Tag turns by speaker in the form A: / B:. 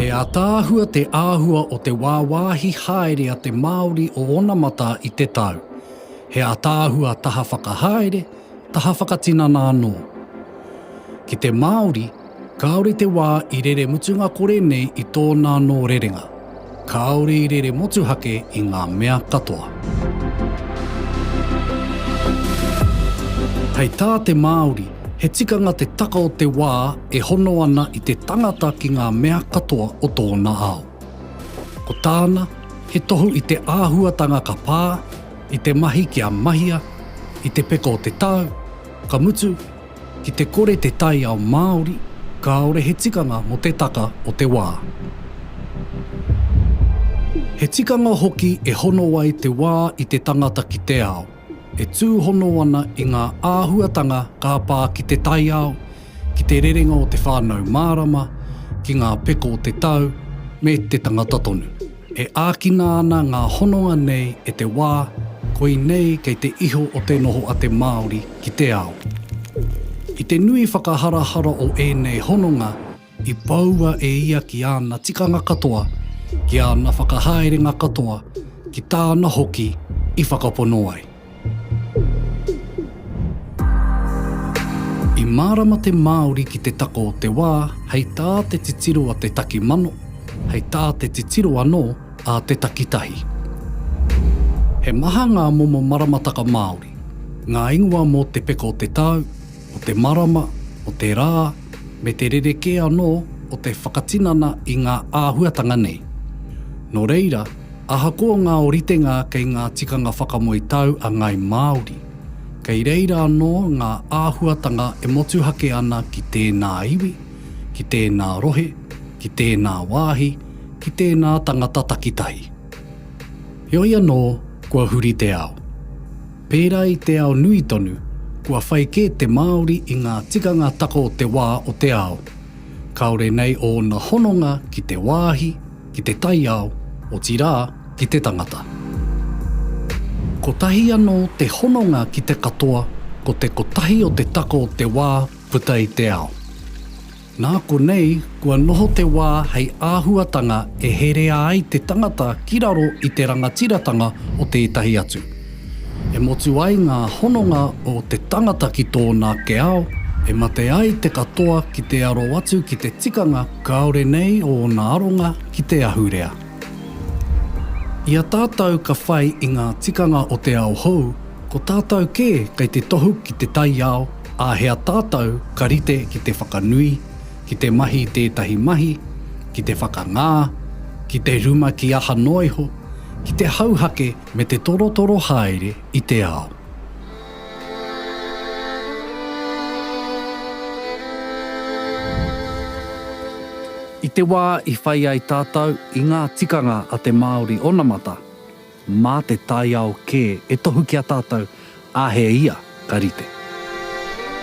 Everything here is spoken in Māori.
A: He ataahua te āhua o te wāwāhi haere a te Māori o onamata i te tau. He ataahua taha whakahaere, taha whakatinana anō. Ki te Māori, Kāore te wā i rere mutunga kore nei i tōna anō rerenga. Kāore i rere motuhake i ngā mea katoa. Hei tā te Māori, he tikanga te taka o te wā e hono ana i te tangata ki ngā mea katoa o tōna ao. Ko tāna, he tohu i te āhuatanga ka pā, i te mahi kia mahia, i te peka o te tau, ka mutu, Ki te kore te taiao Māori, kāore he tikanga mō te taka o te wā. He tikanga hoki e hono ai te wā i te tangata ki te ao, e tūhono ana i ngā āhuatanga ka pā ki te taiao, ki te rerenga o te whānau mārama, ki ngā peko o te tau, me te tangata tonu. E ākina ana ngā hononga nei e te wā, koinei kei te iho o te noho a te Māori ki te ao. I te nui whakaharahara o ēnei hononga, i poua e ia ki āna tikanga katoa, ki āna whakahaerenga katoa, ki tāna hoki i whakapono ai. I mārama te Māori ki te tako o te wā hei tā te titiro a te taki mano, hei tā te titiro anō a te takitahi. He maha ngā momo maramataka Māori, ngā ingoa mō te peka o te tau, o te marama, o te rā, me te rerekē anō o te whakatinana i ngā āhuatanga nei. Nō reira, Ahakoa ngā oritenga kei ngā tikanga whakamoe tau a ngāi Māori, kei reira anō ngā āhuatanga e motuhake ana ki tēnā iwi, ki tēnā rohe, ki tēnā wāhi, ki tēnā tangata takitahi. Heoi anō, kua huri te ao. Pērā i te ao nui tonu, kua whai kē te Māori i ngā tikanga tako o te wā o te ao, kāore nei ōna hononga ki te wāhi, ki te taiao, otirā, ki te tangata. Kotahi anō te hononga ki te katoa, ko te kotahi o te tako o te wā puta i te ao. Nā konei kua noho te wā hei āhuatanga e herea ai te tangata ki raro i te rangatiratanga o tētahi atu. E motu ai ngā hononga o te tangata ki tōna ake ao, e mate ai te katoa ki te aro atu ki te tikanga Kāore nei ōna aronga ki te ahurea. I a tātou ka whai i ngā tikanga o te ao hou, ko tātou kē kei te tohu ki te taiao, āhea tātou ka rite ki te whakanui, ki te mahi i tētahi mahi, ki te whakangā, ki te rumaki aha noa iho, ki te hauhake me te torotoro haere i te ao. I te wā i whai ai tātou i ngā tikanga a te Māori onamata, mā te taiao kē e tohu ki a tātou, ā, he ia ka rite.